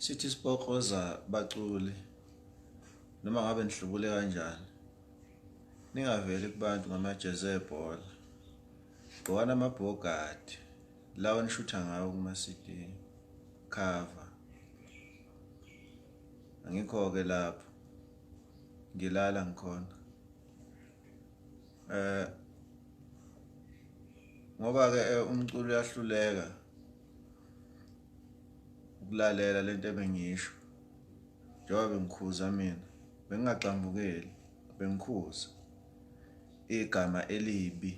Sithi sipokoza baculi noma ngabe nihlubule kanjani, ningaveli kubantu ngamajezi ebhola, gqokani amabhogadi lawa nishutha ngawo kuma-CD cover. Angikho-ke lapho ngilala ngikhona eh ngoba-ke eh, umculo uyahluleka ukulalela lento ebengiyisho njengoba bengikhuza mina bengingagxambukeli bengikhuza igama elibi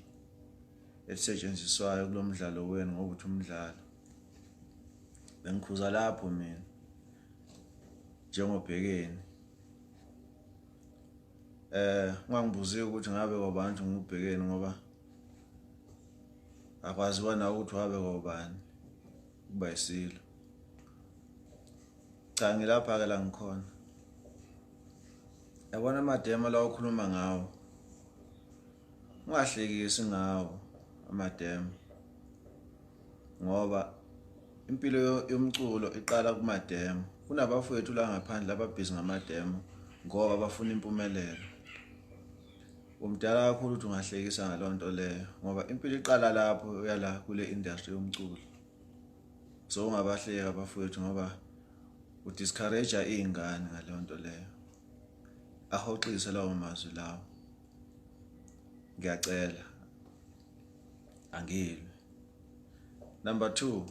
elisetshenziswayo kulo mdlalo wenu ngokuthi umdlalo bengikhuza lapho mina njengobhekeni eh ungangibuziwe ukuthi ngabe kwabantu ngubhekeni ngoba akwaziwa nawe ukuthi wabe kobani kuba isilo cha ngilapha-ke la ngikhona yabona amademo la okhuluma ngawo ungahlekisi ngawo amademo ngoba impilo yomculo iqala kumademo kunabafowethu la ngaphandle ababhizi ngamademo ngoba bafuna impumelelo Umdala kakhulu ukuthi ungahlekisa ngaleyo nto leyo ngoba impilo iqala lapho uyala kule industry yomculo so ungabahleki abafowethu ngoba udiscourage iy'ngane ngaleyo nto leyo ahoxise lawo mazwi lawo ngiyacela angilwe number two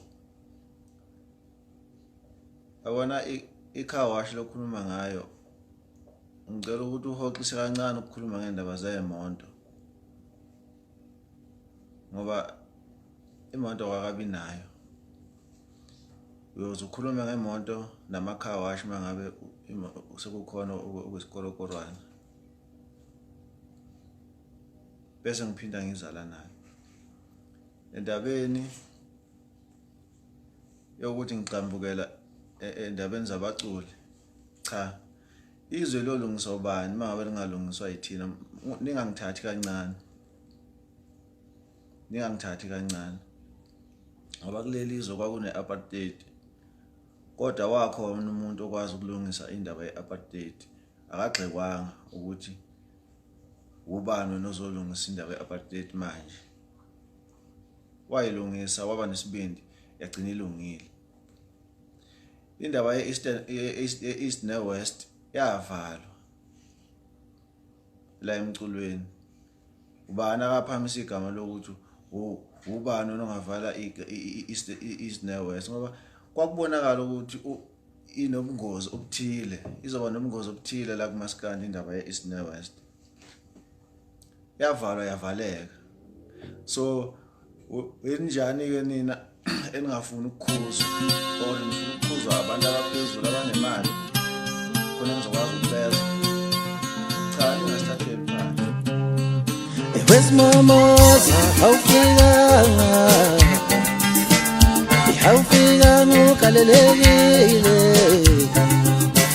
abona i-car wash lokhuluma ngayo ngicela ukuthi uhoxise kancane ukukhuluma ngendaba zeemonto ngoba imoto kwakabi nayo uyoze ukhulume ngemoto nama-car wash uma ngabe sekukhona okwesikolokorwana bese ngiphinda ngizala nayo endabeni yokuthi ngigxambukela e, e, endabeni zabaculi cha izwe lolungiswa ubani uma ngabe lingalungiswa yithina ningangithathi kancane ningangithathi kancane ngoba kuleli izwe kwakune-apartheid kodwa wakhona umuntu okwazi ukulungisa indaba ye-apartheid akagxekwanga ukuthi ubani wena ozolungisa indaba ye-apartheid manje wayilungisa waba nesibindi yagcina ilungile Indaba ye-East ne-West yavalwa la emculweni. Ubani akaphamisa igama lokuthi ubani onongavala i-East ne-West ngoba kwakubonakala ukuthi inobungozi obuthile izoba nobungozi obuthile la kumaskandi indaba ye-East ne-West. yavalwa yavaleka so wenjani ke nina eningafuni ukukhuzwa or nifuna ukukhuzwa abantu abaphezulu abanemali khona ngizokwazi ukubeza cha ningasithatheli phansi wesimomoza awufikanga awufikanga ugalelekile